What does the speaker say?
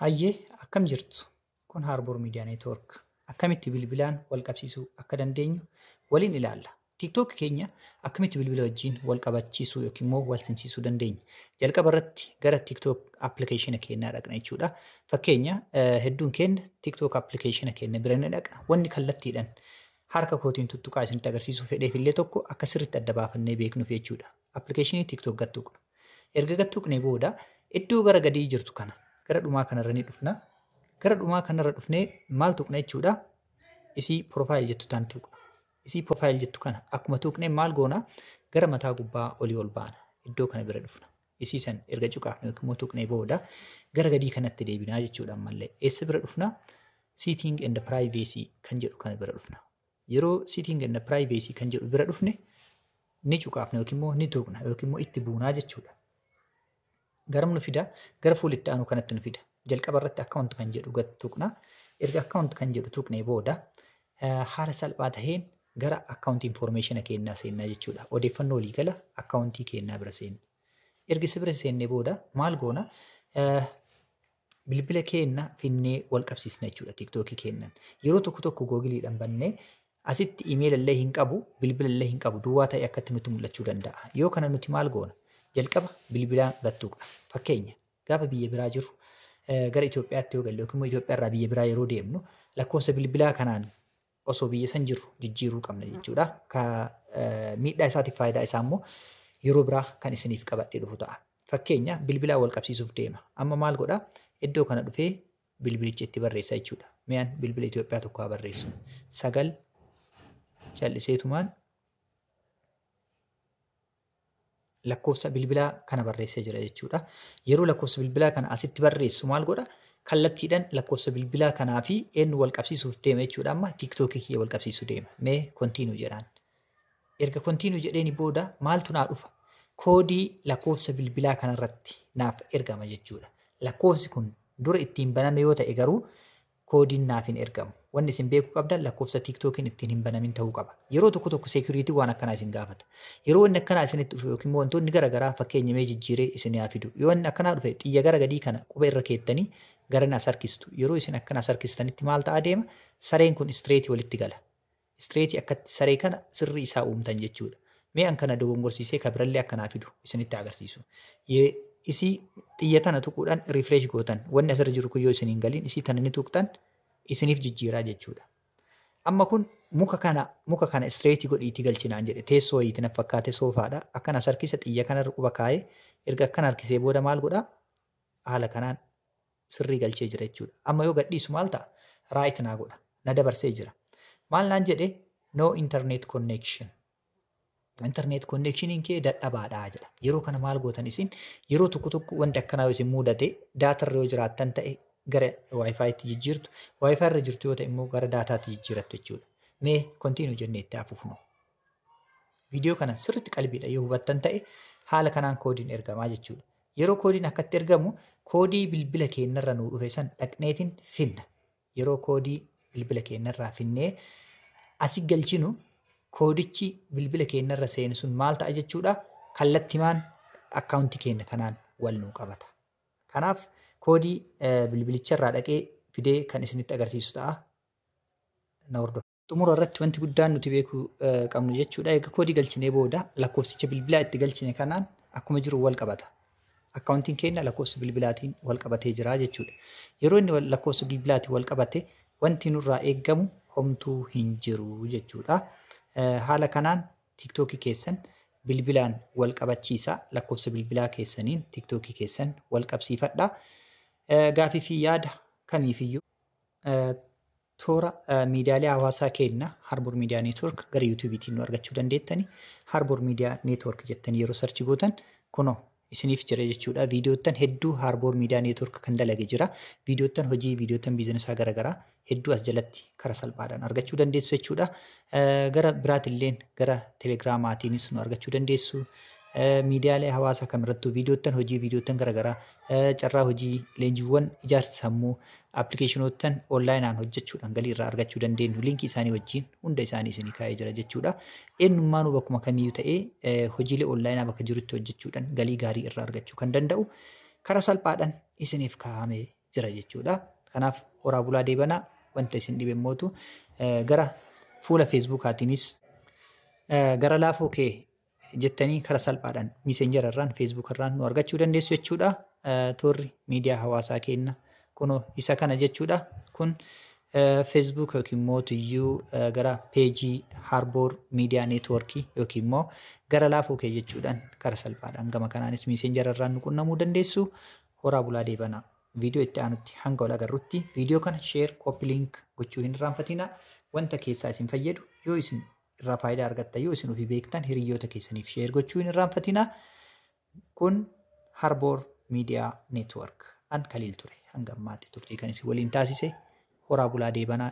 Hayyee akkam jirtu? Kun Harbour Media Network. Akkamitti bilbilaan wal qabsiisuu akka dandeenyu waliin ilaalla. TikTok keenya akkamitti bilbila wajjin wal qabachiisuu yookiin immoo wal simsiisuu dandeenya. Jalqaba irratti gara TikTok appilikeeshina keenyaa dhaqna jechuudha. Fakkeenya eh, hedduun keenya TikTok appilikeeshina keenya bira ni dhaqna. Wanni kallattiidhaan harka kootiin tuttuqaa isinitti agarsiisuu fedheef illee tokko akka sirriitti adda baafannee beeknuuf jechuudha. Appilikeeshinii TikTok gattuqna. Erga gad tuqnee booda iddoo gara gadii jirtu kana gara dhumaa kanarra ni dhufna. Gara dhumaa kanarra dhufnee maal tuqna jechuudha? Isii profile jettu tan tuqna. Isii profile jettu kana akkuma tuqnee maal goona? Gara mataa gubbaa olii ol baana. Iddoo kana bira dhufna. Isii san erga cuqaafne yookiin immoo tuqnee booda gara gadii kanatti deebinaa jechuudha ammallee. Eessa bira dhufna? Seating and privacy kan jedhu kana bira dhufna. Yeroo setting and privacy kan jedhu bira dhufne ni cuqaafna yookiin immoo ni tuqna yookiin immoo itti buunaa jechuudha. Garam nu fida? Gara fuula itti aanu kanatti nu fida. Jalqaba irratti account kan jedhu gad tuqna. Erga account kan jedhu tuqnee booda haala salphaa taheen gara account information keenyaa seennaa jechuudha. Odeeffannoo olii gala account keenyaa bira seenna. Erga isa bira seennee booda maal goona? bilbila keenna finnee wal qabsiisna jechuudha tiktookii keennan yeroo tokko tokko googiliidhaan bannee asitti imeela illee hin qabu bilbila illee hin qabu duwwaa ta'e akkatti nutti mul'achuu danda'a yoo kana nuti maal goona jalqaba bilbilaa gattuuqna fakkeenya gaafa biyya biraa jiru gara Itoophiyaatti yoo galle yookiin immoo Itoophiyaa irraa biyya biraa yeroo deemnu lakkoofsa bilbilaa kanaan osoo biyya san jirru jijjiiruu qabna jechuudha. Ka miidhaa isaatiif faayidaa isaa immoo yeroo biraa kan isiniif qabadhee dhufu ta'a. Fakkeenya bilbilaa wal qabsiisuuf deema. Amma maal godha? Iddoo kana dhufee bilbilicha itti barreessa jechuudha. Mi'aan bilbila Itoophiyaa tokko haa barreessu. Sagal cal'iseetumaan lakkoofsa bilbilaa kana barreessee jira jechuudha. Yeroo lakkoofsa bilbilaa kana asitti barreessu maal godha? Kallattiidhaan lakkoofsa bilbilaa kanaa fi eenyu wal qabsiisuuf deema jechuudha. Amma tiiktookii kiyya wal qabsiisuu deema. Mee kontiinuu jedhaan. Erga kontiinuu jedheeni booda maaltu naa dhufa? Koodii lakkoofsa bilbilaa kanarratti naaf ergama jechuudha. Lakkoofsi kun dura ittiin baname yoo ta'e garuu koodiin naaf hin ergamu. Wanni isin beekuu qabdan lakkoofsa TikTokiin ittiin hin banamin ta'uu qaba. Yeroo tokko tokko security waan akkanaa isin gaafata. Yeroo inni akkanaa isinitti dhufe yookiin immoo wantoonni gara garaa fakkeenya mee jijjiiree isin yaa fidu. Yoo inni akkanaa dhufe xiyya gara gadii kana qubee irra keettanii garana as harkistu. Yeroo isin akkana as harkistanitti maal ta'aa deema? Sareen kun straight walitti gala. straight akkatti saree kana sirri isaa uumtan jechuudha. Mee an kana dogongorsiisee ka birallee akka naa fidu isinitti agarsiisu. Ye- Isii xiyya tana tuquudhaan refresh gootan wanni asirra jiru kun yoo isin hin galin isii tana ni tuqxan isiniif jijjiiraa jechuudha. Amma kun muka kana muka kana straight godhiitii galchinaan jedhe teessoo wayiiti na fakkaate soofaadha akkana sarkisa xiyya kanarra quba kaa'ee erga akkana harkisee booda maal godhaa haala kanaan sirrii galchee jira jechuudha. Amma yoo gadhiisu maal ta'a? Right naa godha. Na dabarsee jira. Maal naan jedhe? No internet connection. Internet connectioniin kee dadhabaadha jedha. Yeroo kana maal gootan isin? Yeroo tokko tokko wanti akkanaa yoo isin mudate daatarra yoo jiraattan ta'e gara waayifaayitti jijjiirtu. Waayifaayirra jirtu yoo ta'e immoo gara daataatti jijjiirattu jechuudha. Mee kontiinuu jennee itti hafuufnu. Viidiyoo kana sirriitti qalbiidha yoo hubattan ta'e haala kanaan koodiin ergamaa jechuudha. Yeroo koodiin akkatti ergamu koodii bilbila keenyarra nuu dhufe san dhaqneetiin finna. Yeroo koodii bilbila keenyarraa finnee asi galchinu koodichi bilbila keenyarra seenu sun maal ta'a jechuudha kallattimaan akkaawuntii keenya kanaan wal nuu qabata. Kanaaf koodii bilbilicharraa dhaqee fidee kan isinitti agarsiisu ta'a. Na hordofa. Xumura irratti wanti guddaan nuti beekuu qabnu jechuudha. Egaa koodii galchinee booda lakkoofsicha bilbilaa itti galchine kanaan akkuma jiru wal qabata. Akkaawuntiin keenya lakkoofsa bilbilaatiin wal qabatee jira jechuudha. Yeroo inni lakkoofsa bilbilaatiin wal qabate wanti nurraa eegamu homtuu hin jiru jechuudha. Haala kanaan tiktookii keessan bilbilaan wal qabachiisa lakkoofsa bilbilaa keessaniin tiktookii keessan wal qabsiifadha. Gaafii fi yaada kamiifiyyuu Toora miidiyaalee hawaasaa keenya Harbour Media Network gara YouTubetiin nu argachuu dandeettani. Harbour Media Network jettanii yeroo sarchi gootan kunoo isiniif jira jechuudha. Viidiyoottan hedduu Harbour Media Network kan dalage jira. Viidiyoottan hojii, viidiyoottan biizinesaa garaagaraa hedduu as jalatti kara salphaadhaan argachuu dandeessu jechuudha. Gara biraatilleen gara telegiraamaatiinis nu argachuu dandeessu. Miidiyaalee hawaasaa kamirrattuu viidiyoottan hojii, viidiyoottan garaagaraa Carraa hojii leenjiiwwan ijaarsa sammuu appilikeeshinoottan onlaayinaan hojjechuudhaan galii irraa argachuu dandeenyu liinkii isaanii wajjin hunda isaanii isinii kaa'ee jira jechuudha. Eenyummaanuu bakkuma kamiyyuu ta'ee hojiilee onlaayinaa bakka jirutti hojjechuudhaan galii gaarii irraa argachuu kan danda'u karaa salphaadhaan isiniif kaa'amee jira jechuudha. Kanaaf horaa bulaa deebanaa wanta isin dhibe mootu gara fuula feesbuukaatiinis gara laafoo kee jettanii kara salphaadhaan miisenjara irraan feesbuuk irraan nu argachuu dandeessu jechuudha. Toorri miidiyaa hawaasaa keenna kunoo isa kana jechuudha. Kun feesbuuk yookiin immoo tuyyuu gara peejii harboor miidiyaa neetwoorkii yookiin immoo gara laafuu kee jechuudhaan kara salphaadhaan gama kanaanis miisenjara irraan nu qunnamuu dandeessu. Horaa bulaa deebanaa. Viidiyoo itti aanutti hanga wal agarrutti viidiyoo kana sheer kooppi liink gochuu hin irraanfatinaa wanta keessaa isin fayyadu yoo isin irraa faayidaa argatta yoo isin ofii beektan hiriyoota keessaniif sheer gochuu hin irraanfatina. Kun Harboor Miidiyaa Neetwork an Kaliil ture. Hanga ammaatti turtii kan isin waliin taasise horaa bulaa deebanaa